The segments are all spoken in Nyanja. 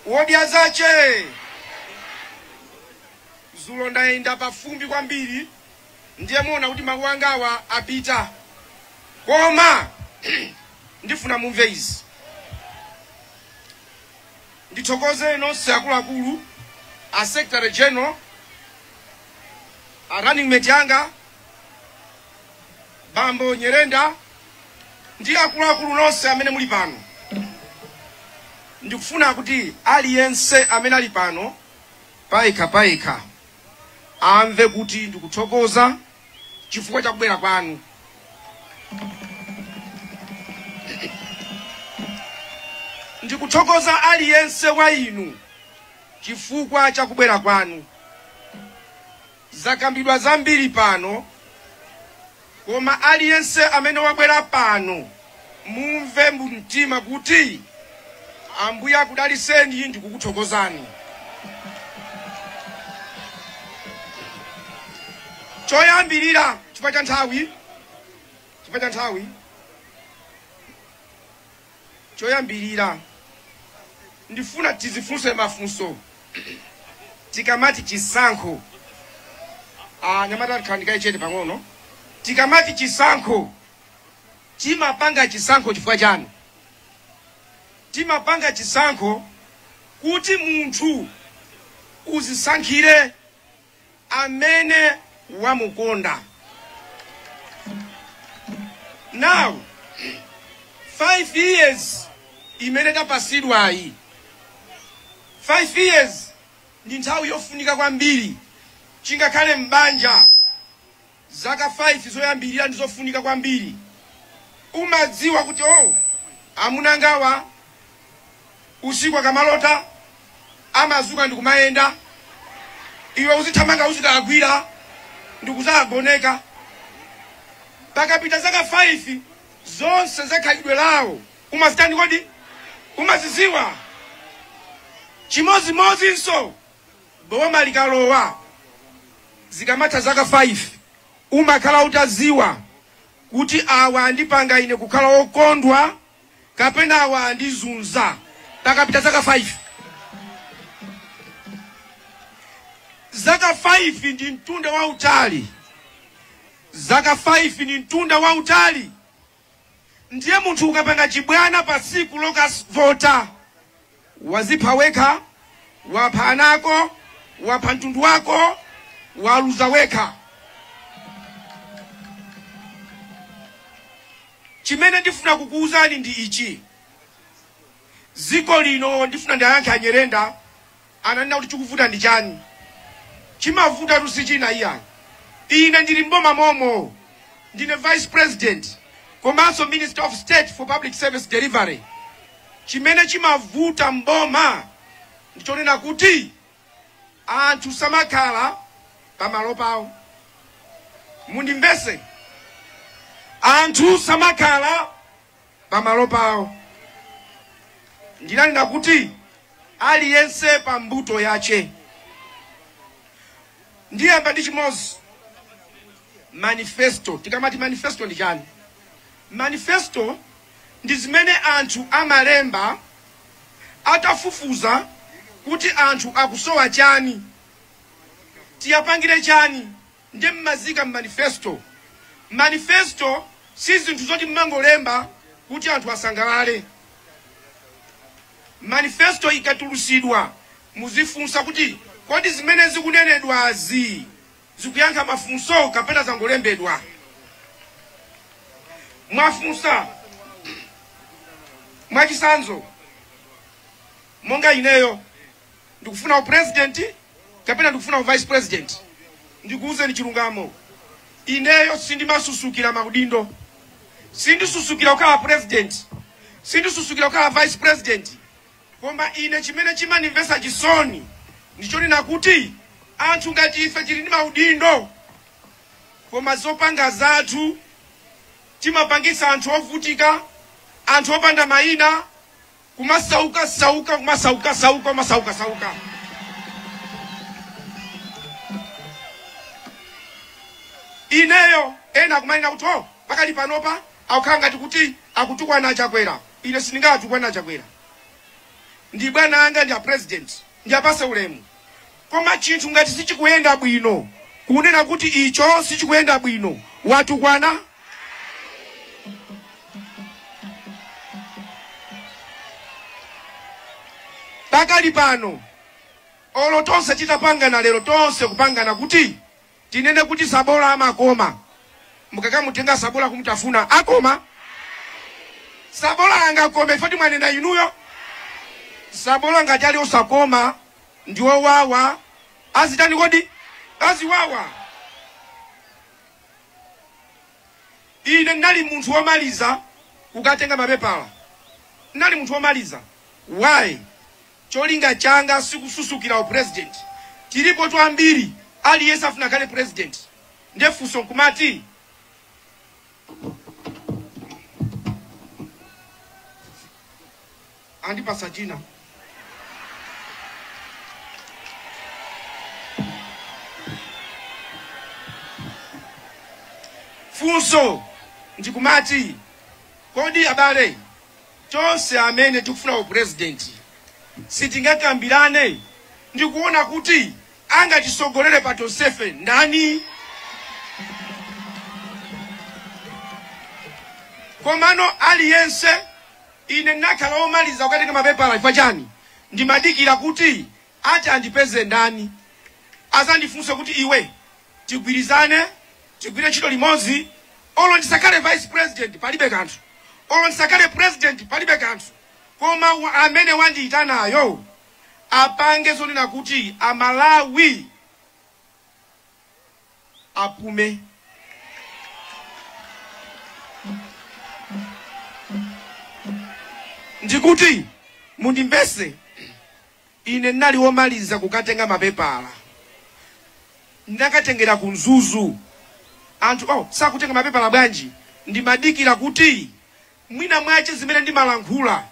wodya zake dzulo ndayenda pafumbi kwambiri ndiye muona kuti mawu angawa apita koma ndifuna mumve izi ndithokoze nonse akuluakulu a secretary general a running mate anga bambo Nyirenda ndi akuluakulu nonse amene muli pano ndikufuna kuti aliyense amene ali pano payekha payekha amve kuti ndikuthokoza chifukwa cha kubwera kwanu ndikuthokoza aliyense wa inu chifukwa cha kubwera kwanu Zakambidwa zambiri pano koma aliyense amene wabwera pano mumve mu mtima kuti Ambuye akudaliseni ndikukuthokozani. Choyambirira chifukwa cha nthawi, chifukwa cha nthawi. Choyambirira, ndifuna tizifunse mafunso tikamati chisankho. Anyamata khalani kaye chete pang'ono. Tikamati chisankho, timapanga chisankho chifukwa chani? Timapanga chisankho kuti munthu uzisankhire amene wamukonda. Now 5 years imene tapasidwayi 5 years ndi nthawi yofunika kwambiri chingakhale m'banja Zaka 5 zoyambirira ndi zofunika kwambiri. Umadziwa kuti, oh, amuna angawa usiku akamalota amazuka ndi kumayenda. Iwe uzithamanga uzikawagwira ndi kuzawagoneka. Pakapita zaka 5 zonse za khalidwe lawo umazitani kodi? Umaziziwa. Chimozimozinso boma likalowa zikamatha zaka 5 umakhala utaziwa kuti awa andipanga ine kukhala okondwa kapena awa andizunza pakapita zaka 5 zaka 5 ndi mtunda wautali zaka 5 ni mtunda wautali Ndiye munthu ukapanga chibwana pa tsiku lokavota, wazipha wekha, wapha ana ako, wapha mtundu wako, waluza wekha. Chimene ndifuna kukuwuzani ndi ichi, dziko lino ndifuna ndiwayankhe a Nyirenda ananena kuti chikuvuta ndi chani chimavutatu si china iyayi ine ndili m'boma momo ndine vice president komanso minister of state for public service delivery chimene chimavuta m'boma ndichonena kuti anthu samakhala pamalo pawo mundimvese anthu samakhala pamalo pawo ndinanena kuti aliyense pa mbuto yake ndiyamba ndi chimodzi manifesto tikamati manifesto ndi chani manifesto ndi zimene anthu amalemba atafufuza kuti anthu akusowa chani tiwapangire chani nde mmaziika mmanifesto. Manifesto si zinthu zoti mmangolemba kuti anthu asangalale. Manifesto ikatulusidwa muzifunsa kuti kodi zimene zikunenedwazi zikuyankha mafunso kapena zangolembedwa. Mwafunsa mwachitsanzo monga ineyo ndikufuna upresident kapena ndikufuna uvice president ndikuwuzeni chilungamo ineyo sindimasusukira maudindo sindisusukira kukhala president sindisusukira kukhala vice president koma ine chimene chimandimvesa chisoni ndichonena kuti anthu ngati ife tili ndi maudindo koma zopanga zathu timapangisa anthu ovutika anthu opanda mayina kumasauka sauka kumasauka sauka kumasauka sauka ineyo ena akumanena kuti o pakali panopa akukhala ngati kuti akutukwana a Chakwera ine sindingatukwane a Chakwera ndi bwana anga ndi a president ndiwapase ulemu Koma chinthu ngati sichikuyenda bwino, kunena kuti icho sichikuyenda bwino, watukwana. Pakali pano, olo tonse titapangana lero, tonse kupangana kuti. Tinene kuti tsabola amakoma mukakamutenga tsabola kumutafuna? Akoma? Tsabola angakome chifukwa choti mwanena inuyo? Tsabola ngati ali osakoma ndi owawa azitani kodi? Aziwawa. Ine n'nali munthu womaliza kukatenga mapepala. N'nali munthu womaliza. Why? Cholinga changa sikususukira u president. Tilipotu ambiri aliyense afuna akhale president nde funso nkumati andipatsa dzina? Funso ndikumati kodi abale Tonse amene tikufuna u president sitingakambirane ndi kuona kuti angatisogolere pa tonsefe ndani? Komano aliyense ine n'nakhala omaliza kukatenga mapepala chifukwa chani? Ndimadikira kuti ati andipeze ndani azandifunse kuti iwe tigwirizane tigwire ntchito limodzi olo ndisakhale vice president palibe kanthu olo ndisakhale president palibe kanthu koma amene wandiyitanayo apange zonena kuti amalawi apume ndikuti mundimvese Ine n'nali womaliza kukatenga mapepala. Ndinakatengera ku Mzuzu. Anthu sakutenga mapepala bwanji? Ndimadikira kuti mwina mwache zimene ndimalankhula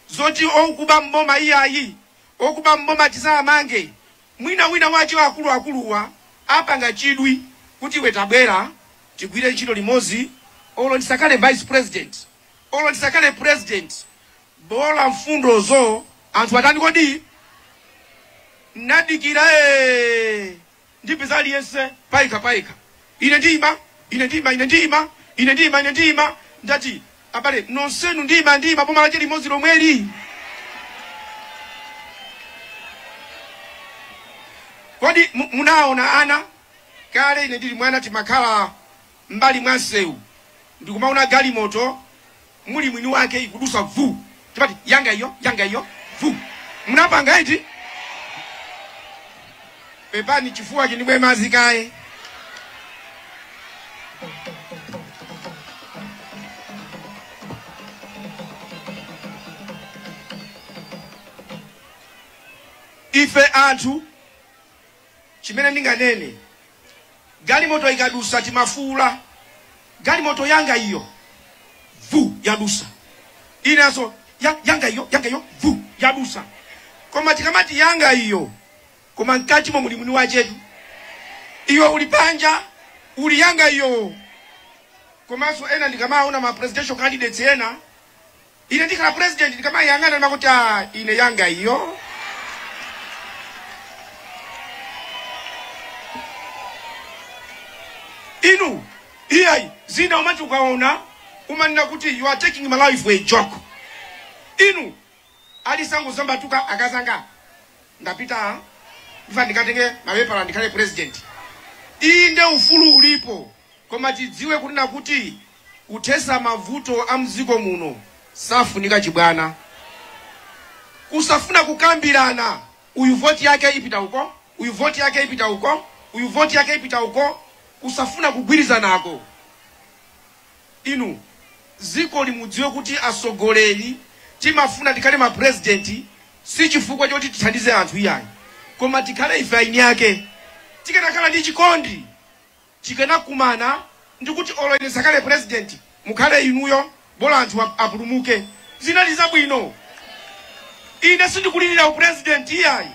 zoti okuba m'boma iyayi, okuba m'boma tizawamange, mwina mwina mwache akulu akuluwa apanga chidwi kuti iwe tabwera tigwire ntchito limodzi olo ndisakhale vice president, olo ndisakhale president. Bola mfundozo anthu atani kodi n'nadikira ndipeza aliyense paika paika ine ndiima ine ndiima ine ndiima ine ndiima ine ndiima ndati abale nonsenu ndiima ndiima boma lache limodzi lomweli kodi munaona ana kale ine ndili mwana timakhala m'mbali mwa msewu ndi kumaona galimoto muli mwini wake ikudusa vu timati yanga iyo yanga iyo vu munapanga iti pepani chifuwa ndimwe madzi kaye ife anthu chimene ndinganene, galimoto ikadusa timafuula, galimoto yanga iyo, vu yadusa, inanso ya, yanga iyo, yanga iyo, vu yadusa. Koma tikamati yanga iyo, koma mkatimo muli mwini wachetu, iwe uli panja uli yanga iyo. Komanso ena ndikamaona ma presidential candidates ena Ine ndikhala president ndikamayang'ana ndimakuti ah ine yanga iyo. Inu iyayi zina umati ukaona umanena kuti you are taking my life for a joke. Inu alisangu zambatuka akazanga ndapita ine ndikatenge mapepala ndikhale president. Inde ufulu ulipo. Koma tidziwe kunena kuti kuthesa mavuto a mdziko muno safunika chibwana. Kusafuna kukambilana uyu vote yake ipita uko, uyu vote yake ipita uko, uyu vote yake ipita uko kusafuna kugwilizanako. Inu zikoli lidziwe kuti asogoleli timafuna tikhale ma president sichifukwa choti tithandize anthu iyayi koma tikhale ife eni ake. Tikanakhala ndi chikondi. tikanakumana ndikuti olo ine nsakhale president mukhale inuyo bola anthu apulumuke zinali zabwino ine sindikulilira u president iyayi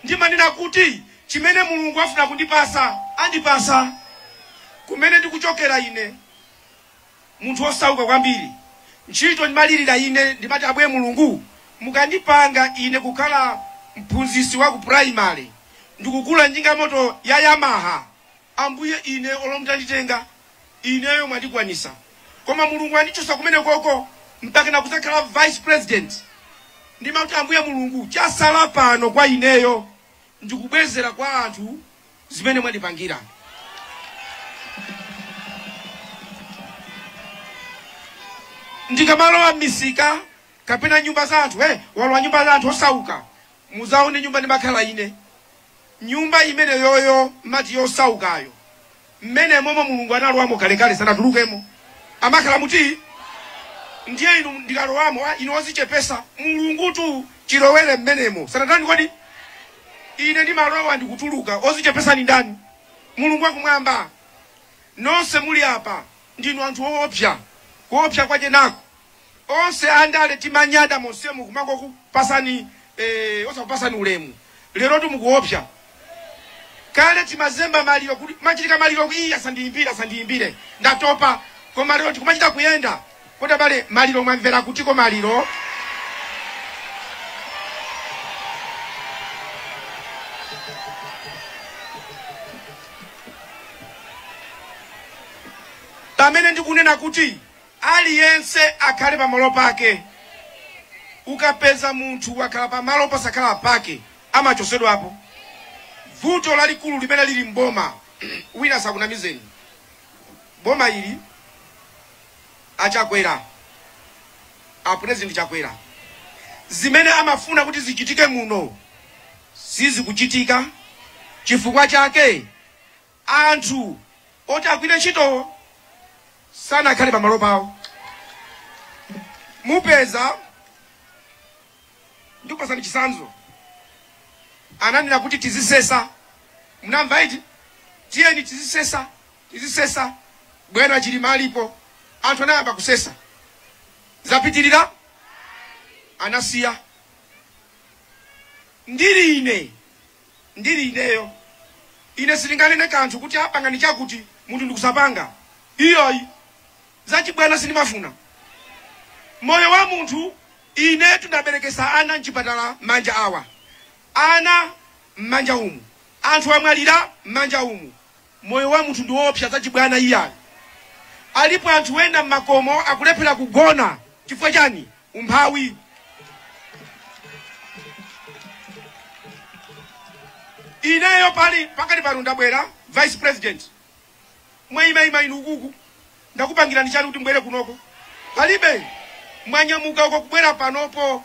ndimanena kuti chimene mulungu afuna kundipasa andipasa kumene ndikuchokera ine munthu osauka kwambiri ntchito ndimalilira ine ndimati Ambuye mulungu mukandipanga ine kukhala mphunzisi wa ku primary ndikugula njinga moto ya yamaha Ambuye, ine, olo mutanditenga ineyo mwandikwanisa koma mulungu andichosa kumenekoko mpakana kuzakhala vice president ndimati ambuye mulungu chasala pano kwa ineyo ndikubwezera kwa anthu zimene mwandipangira. ndikamalowa mmisika kapena nyumba za anthu hey, walowa nyumba za anthu osauka muzaone nyumba ndimakhala ine nyumba imeneyoyo mati yosaukayo mmenemomo mulungu analowamo kalekale sanatulukemo amakhala muti ndiye ine ndikalowamo ah, inu ozichepesa mulungutu chilowere mmenemo sanatani kodi ine ndimalowa ndikutuluka ozichepesa ndi ndani mulungu akumwamba nonse muli apa ndinu anthu oopsa kuopsa kwache nako onse andale timanyada monsemu kumangokupatsani eh, osakupatsani ulemu lerotu mukuopsa kale timazemba maliro kutimachitika maliro kuti iyayi asandiyimbire asandiyimbire ndatopa koma lero tikumachita kuyenda kodi abale maliro mwamvera kutiko maliro pamene ndikunena kuti Aliyense akhale pamalo pake. Ukapeza munthu wakhala pamalo posakhala pake amachotsedwapo. Vuto lalikulu limene lili m'boma wina asakunamizeni boma ili a Chakwera a president Chakwera zimene amafuna kuti zichitike muno sizikuchitika chifukwa chake Anthu oti agwire ntchito sanakhale pa malo pawo. Mupeza, ndikupatsani chitsanzo, ananena kuti tizisesa, munamva eti, tiyeni tizisesa, tizisesa, bwana Chilima alipo, anthu anayamba kusesa, zapitirira, anasiya. Ndili ine ndiri ineyo. Ine sindinganene kanthu kuti ah pangani chakuti munthu ndikusapanga. Iyayi. Zachibwana sindimafuna. Moyo wa munthu inetu ndaberekesa ana m'chipatala manja awa. Ana mmanja umu. Anthu amwalira mmanja umu. Moyo wa munthu ndi woopsa zachibwana iyayi. Alipo anthu ena mmakomo akulephera kugona chifukwa chani? umphawi ineyo pakati pakati pano ndabwera vice president mwayimayima inu ukuku ndakupangirani chani kuti mbwere kunoko palibe mwanyamuka uko kubwera panopo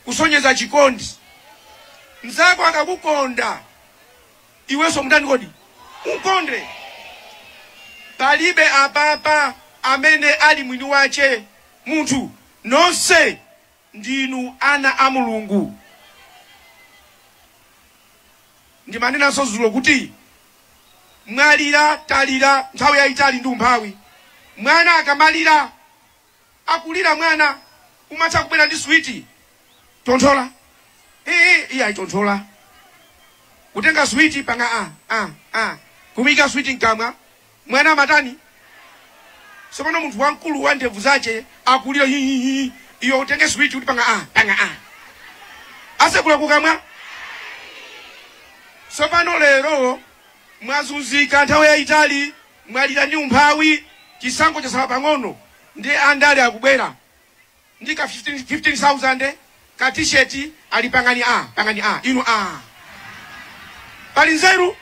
kusonyeza chikondi mzako akakukonda iwenso mutani kodi umukonde palibe apapa amene ali mwini wache munthu. Nonse ndinu ana a Mulungu. Ndimanenanso zulo kuti mwalira, talira nthawi yayitali ndi umphawi. Mwana akamalira, akulira mwana, umatha kubwera ndi switi, tonthola ee iyayi tonthola, kutenga switi panga a a a kumuika switi mkamwa. Mwana amatani? Sopano munthu wankulu wa ndevu zache akulira hi hi hi iwe utenge switi kuti panga ah panga ah asekula kukamwa. Sopano lero mwazunzika nthawi yayitali mwalira ndi umphawi chisankho chasala pang'ono ndi andale akubwera ndi ka 15000 ka t-shirt ali pangani a pangani a inu a pali nzeru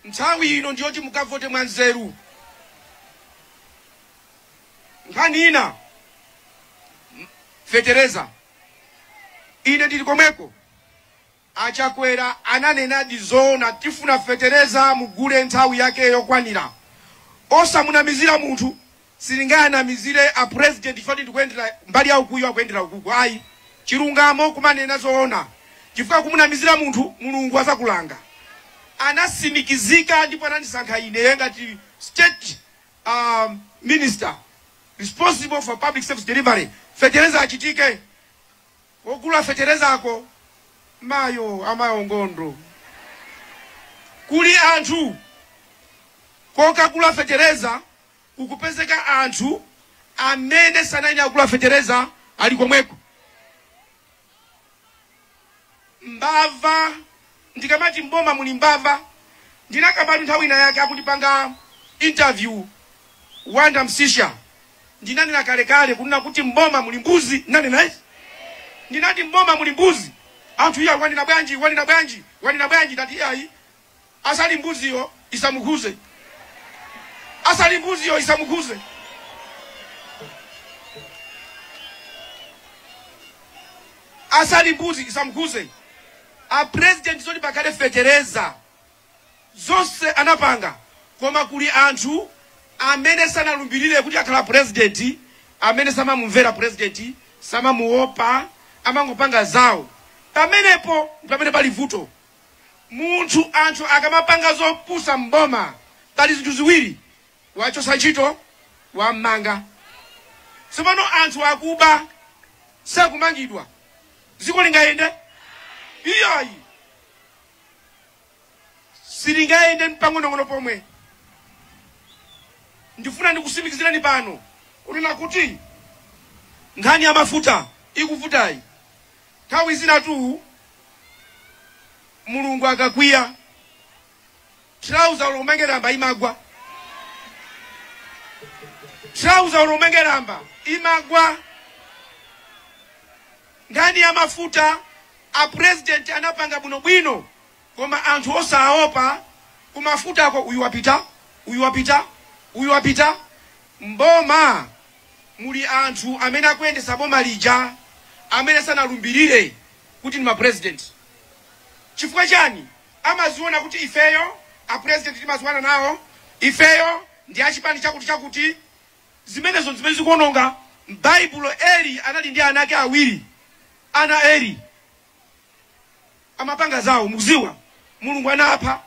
nthawi ino ndiyoti mukavote mwa nzeru nkhani ina m- fetereza ine ndili komweko A Chakwera ananenadi zoona tifuna fetereza mugule nthawi yake yokwanira osamunamizira munthu sindingawanamizire a president chifukwa ndikuyendera mbali ya ukuyu akuyendera ukuku ayi chilungamo kumanena zoona chifukwa kumunamizira munthu Mulungu azakulanga anasimikizika ndipo anandisankha ine ngati state uh, minister responsible for public service delivery fetereza achitike Ogula fetereza ako mayo amayo nkhondo kuli anthu kokagula fetereza kukupezeka anthu amene sanayenera kugula fetereza ali komweko mbava. ndikamati m'boma muli mbava ndinakambatu nthawi ina yake akundipanga interview Wonder Msisha ndinanena kalekale kunena kuti m'boma muli mbuzi ndinanena ine ndinati m'boma muli mbuzi anthu iya wanena bwanji wanena bwanji wanena bwanji ndati iyayi asali mbuziyo isamukhuze asali mbuziyo isamukhuze asali mbuzi isamukhuze A president zoti pakhale fetereza zonse anapanga koma kuli anthu amene sanalumbilire kuti akhala president amene samamumvera president samamuopa amangopanga zawo pamenepo ndipamene pali vuto munthu anthu akamapanga zopusa mboma pali zinthu ziwiri wamchosa ntchito wammanga tsopano anthu akuba sakumangidwa dziko lingayende iyayi silingayende mpang'onong'ono pomwe ndifuna ndikusimikizireni pano kunena kuti nkhani ya mafuta ikuvutayi nthawi zinatu mulungu akakwiya Trouser olo umange lamba imagwa. Trouser olo umange lamba imagwa. Nkhani ya mafuta a president anapanga bwino bwino koma anthu osaopa kumafuta ako uyu wapita uyu wapita uyu wapita mboma muli anthu amene akuyendesa boma lija amene sanalumbirire kuti ndi ma president chifukwa chani amaziona kuti ifeyo a president timadziwana nawo, ifeyo ndi a chipani chakuti chakuti. Zimenezo ndzimene zikuononga. M'baibulo Eli anali ndi ana ake awiri, ana a Eli amapanga zawo mukudziwa, Mulungu anapha.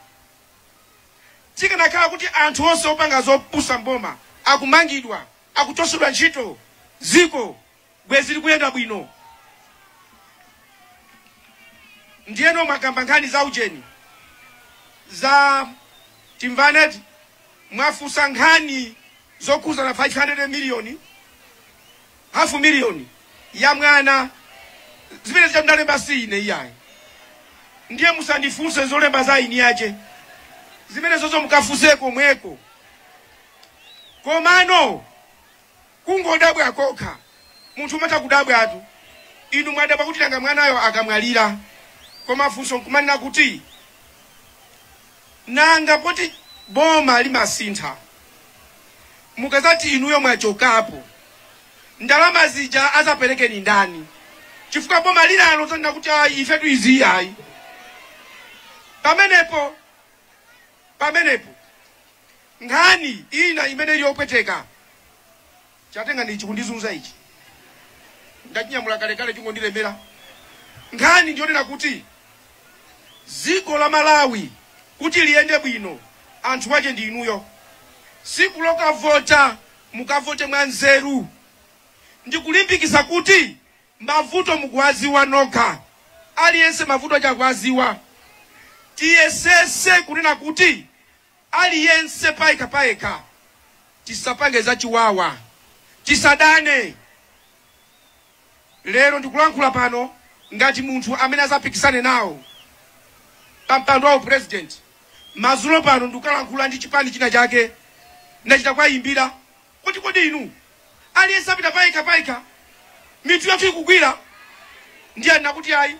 Zikanakhala kuti anthu onse opanga zopusa m'boma akumangidwa, akuchotsedwa ntchito, dziko bwezi likuyenda bwino ndiyeno mwakamba nkhani za ujeni za Timvane mwafusa nkhani zokhuzana 500 miliyoni hafu miliyoni ya mwana zimene zija ndalemba si ine iyayi ndiye musandifunse zolemba za eni ace zimenezozo mukafuse komweko komano Kungodabwa kokha. Munthu umatha kudabwatu. Inu mwadabwa kuti nanga mwanayo akamwalira. Koma funso n'kumanena kuti, Nanga poti boma limasintha, mukadzati inuyo mwachokapo, ndalama zija adzapereke ndi ndani? Chifukwa boma linalo lidzanena kuti, Ayi, ifetu izi ayi. Pamenepo, pamenepo. nkhani ina imene ili yopweteka chatenga ndi ichi kundizunza ichi ndachinyamula kalekale chingondilemera nkhani ndiyonena kuti dziko la malawi kuti liyende bwino anthu wake ndi inuyo siku lokavota mukavote mwa nzeru ndikulimbikisa kuti mavuto mukuwaziwa nokha aliyense mavuto akuwaziwa tiyesese kunena kuti Aliyense payekha payekha tisapange zachiwawa, tisadane. Lero ndikulankhula pano ngati munthu amene azapikisane nawo pa mpando wa u president. Madzulo pano ndikalankhula ndi chipani china chake ndachita kuwayimbira. Kuti kodi inu. Aliyense apita payekha payekha, mitu yathu ikugwira, ndiye nakuti, Ayi,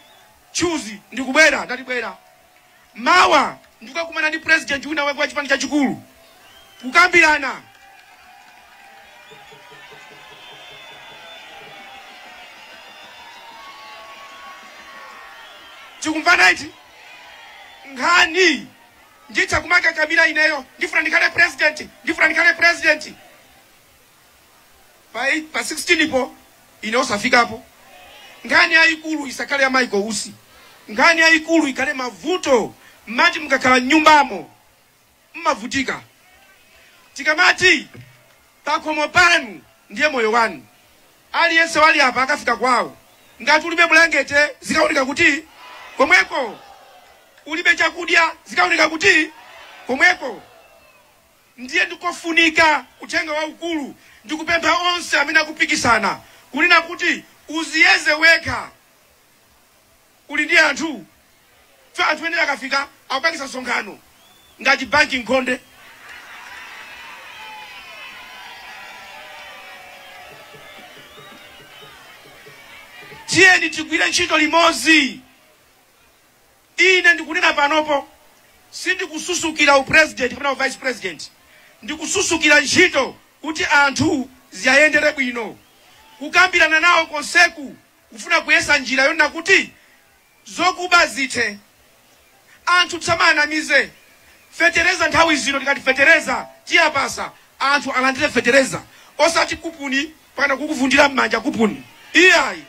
Chuzi, ndikubwera. Ndati, Bwera mawa ndikukakumana ndi purezidenti winawake wa chipani chachikulu, kukambirana. Tikumvana eti? Nkhani Nditha kumakakamira ineyo ndifuna ndikhale president ndifuna ndikhale president pa, pa 16 po ine osafikapo. Nkhani yayikulu isakhale ya Michael Usi, nkhani yayikulu ikhale mavuto mmati mukakhala mnyumbamo mmavutika. Tikamati pakhomo panu ndiye moyo wanu. Aliyense wali apa akafika kwawo. Ngati ulibe bulangete, zikawoneka kuti? Komweko. Ulibe chakudya, zikawoneka kuti? Komweko. Ndiye ndi kofunika, Uthenga waukulu, ndi kupempha onse amene akupikisana, kunena kuti, Uziyeze wekha. uli ndi anthu chifukwa anthu ena akafika akupangisa msonkhano ngati banki nkhonde tiyeni tigwire ntchito limodzi ine ndikunena panopo sindikususukira upresident kapena uvice president ndikususukira ntchito kuti anthu ziyayendere bwino kukambirana nawo konseku kufuna kuyesa njira yonena kuti zokuba zithe. Anthu tisamawanamize fetereza nthawi zino tikati fetereza tiyapasa anthu alandire fetereza osati kupuni mpakana kukuvundira m'manja kupuni iyayi.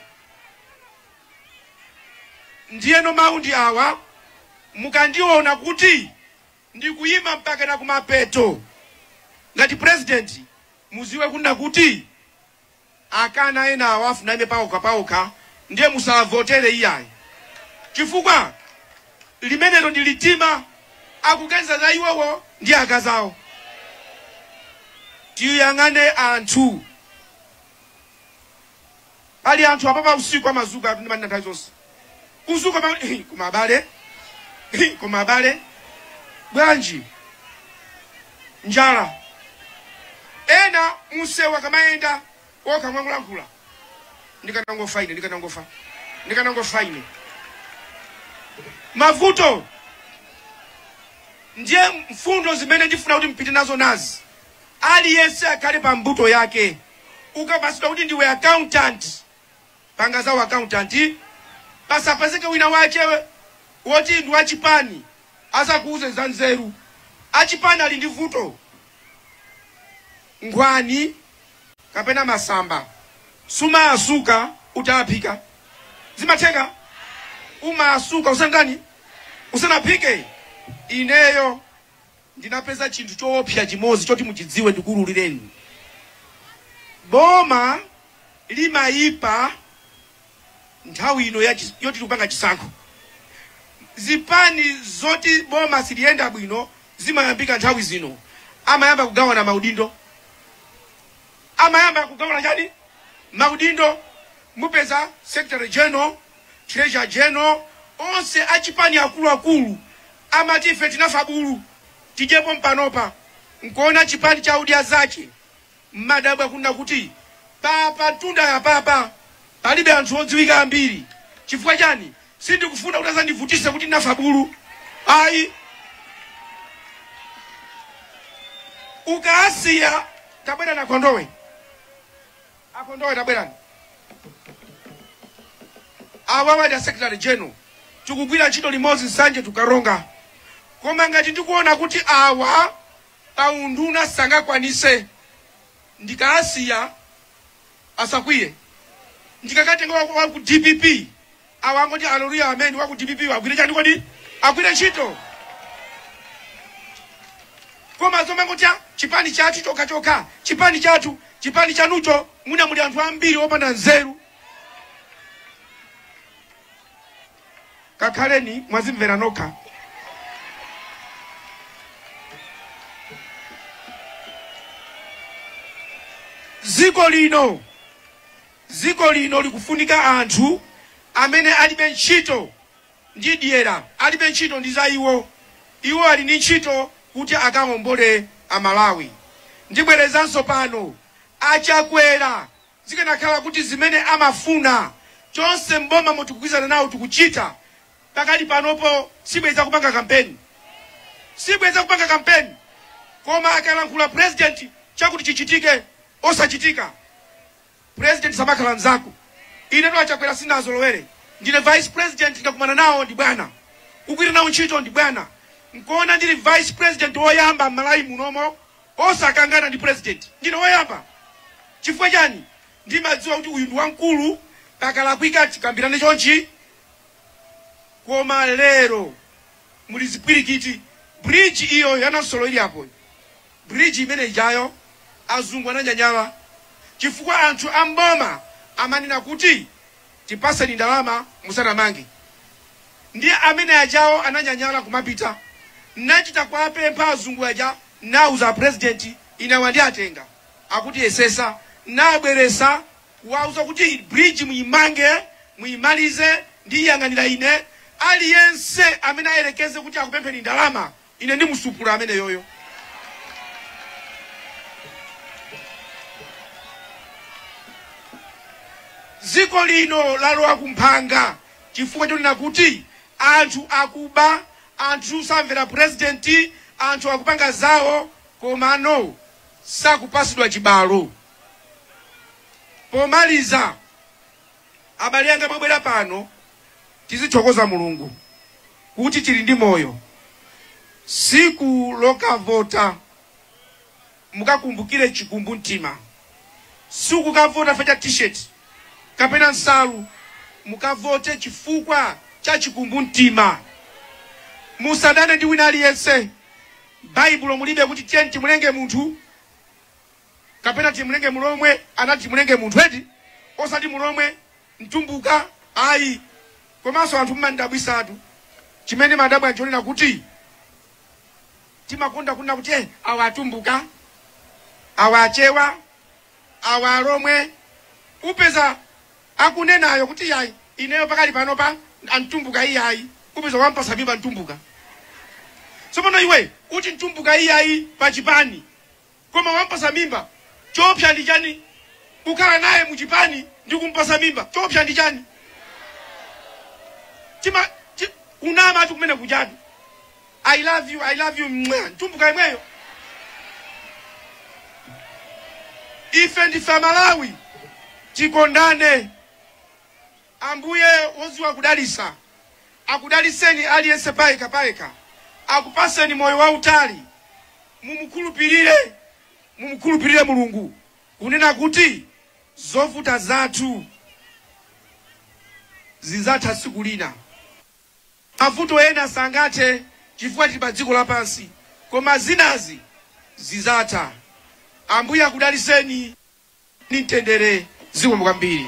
Ndiyeno mawu ndi awa, mukandiona kuti ndikuyima mpakana kumapeto ngati purezidenti muziwe kunena kuti. Akana enawo afuna aime paokha paokha ndiye musawavotere iyayi chifukwa limenero ndi litima akuganiza za iwowo ndi akazi awo. Tiyang'ane anthu. Pali anthu apapa usiku amazuka ndimanena nthawi zonse. kuzuka pa koma abale koma abale bwanji njala ena musewu akamayenda okha amangolankhula ndikanangofa ine ndikanangofa ndikanangofa ine mavuto ndiye mfundo zimene ndifuna kuti mpite nazo nazi aliyense akhale pa mbuto yake ukapasidwa kuti ndiwe accountant panga za u accountant pasapezeke wina wache woti ndi wachipani azakuuze za nzeru achipani ali ndi vuto nkhwani kapena masamba sumaasuka utaphika zimatheka umaasuka usanatani usanaphike ineyo Ndinapeza chinthu choopsa chimodzi choti muchidziwe ndikuululireni. Boma limaipa nthawi ino yoti tikupanga chisankho. Zipani zoti boma siliyenda bwino zimayambika nthawi zino, amayamba kugawana maudindo, amayamba kugawana chani maudindo. Mupeza secretary general, treasurer general, onse achipani akuluakulu Amati ife tinafa bulu tidyepo mpanopa nkuona chipani cha Odya Zake mmadabwa kunena kuti papa mtunda apapa palibe anthu odziwika ambiri chifukwa chani sindikufuna kuti azandivutise kuti ndinafa bulu ayi ukaasiya tabwera na kondowe A Kondowe tabwerani. Awawa ndi a Secretary General. Tikugwira ntchito limodzi Nsanje to Karonga. Koma ngati ndikuona kuti awa pa unduna sangakwanise ndikaasiya asakwiye. Ndikakatenga wa wa ku DPP Awa angoti hallelujah amen wa ku DPP wo agwire chani kodi? Agwire ntchito. Koma zomangoti ah, chipani chathu chokha chokha, chipani chathu, chipani chanucho muna muli anthu ambiri opanda nzeru. Kakhaleni mwazimvera nokha. Ziko lino Dziko lino likufunika anthu amene alibe ntchito ndi dyera, alibe ntchito ndi za iwo. Iwo ali ndi ntchito kuti akawombole a Malawi. Ndibwerezanso pano, a Chakwera zikanakhala kuti zimene amafuna tonse m'bomamo tikugwirizana nawo tikuchita, pakali panopo sibwenzi akupanga kampeni. Sibwenzi akupanga kampeni. Koma akalankhula president chakuti chichitike osachitika. president samakhala mzako ine to achakwera sinazolowere ndine vice president ndakumana nawo ndi bwana kugwira nawo ntchito ndi bwana nkuona ndili vice president woyamba m'malawi munomo osakangana ndi president ndine woyamba chifukwa chani ndimadziwa kuti uyu ndi wamkulu pakalakwika tikambirane chonchi koma lero muli zipwirikiti bridge iyo ya Namsolo ili apo Bridge imene ijayo azungu ananyanyala chifukwa anthu a m'boma amanena kuti tipaseni ndalama musanamange ndiye amene ajawo ananyanyala kumapita nachita kuwapempha azungu aja nauza a president ine awa ndiatenga akutisesa nabweresa kuwauza kuti bridge muimange muimalize ndiyiyang'anira ine aliyense amene ayelekeze kuti akupempheni ndalama Ine ndimutsupula ameneyoyo. Dziko lino lalowa ku mphanga chifukwa chonena kuti anthu akuba, anthu samvera purezidenti, anthu akupanga zawo komano sakupatsidwa chibalo. Pomaliza. Abale anga mwabwera pano tizithokoza Mulungu kuti tili ndi moyo. Tsiku lokavota mukakumbukire chikumbumtima. Sikukavota chifukwa cha t-shirt kapena nsalu. Mukavote chifukwa cha chikumbumtima. Musadane ndi wina aliyense. Baibulo mulibe kuti tiyeni timulenge munthu. kapena timulenge mulomwe anati timulenge munthu eti osati mulomwe mtumbuka ayi komanso anthu mmandidabwitsatu chimene mmadabwa nchonena kuti timakonda kunena kuti "Eh, awa atumbuka awa achewa awa alomwe upeza akunenayo kuti yayi ineyo pakali panopa mtumbuka iyayi upeza wampatsa mimba mtumbuka tsopano iwe uti mtumbuka iyayi pachipani Koma wampatsa mimba choopsa ndi chani? Kukhala naye mu chipani ndi kumpatsa mimba choopsa ndi chani? Chima chi, kunamatu kumene kujani. I love you, I love you mwa. Mtumbuka yemweyo. Ife ndife Amalawi. Tikondane. Ambuye wodziwa kudalitsa akudalitseni aliyense payekha payekha akupatseni moyo wautali mumukhulupirire mumukhulupirire mulungu kunena kuti zovuta zathu zidzatha tsiku lina mavuto ena sangathe chifukwa tili pa dziko lapansi koma zinazi zidzatha ambuye akudalitseni ni mtendere zikomo kwambiri.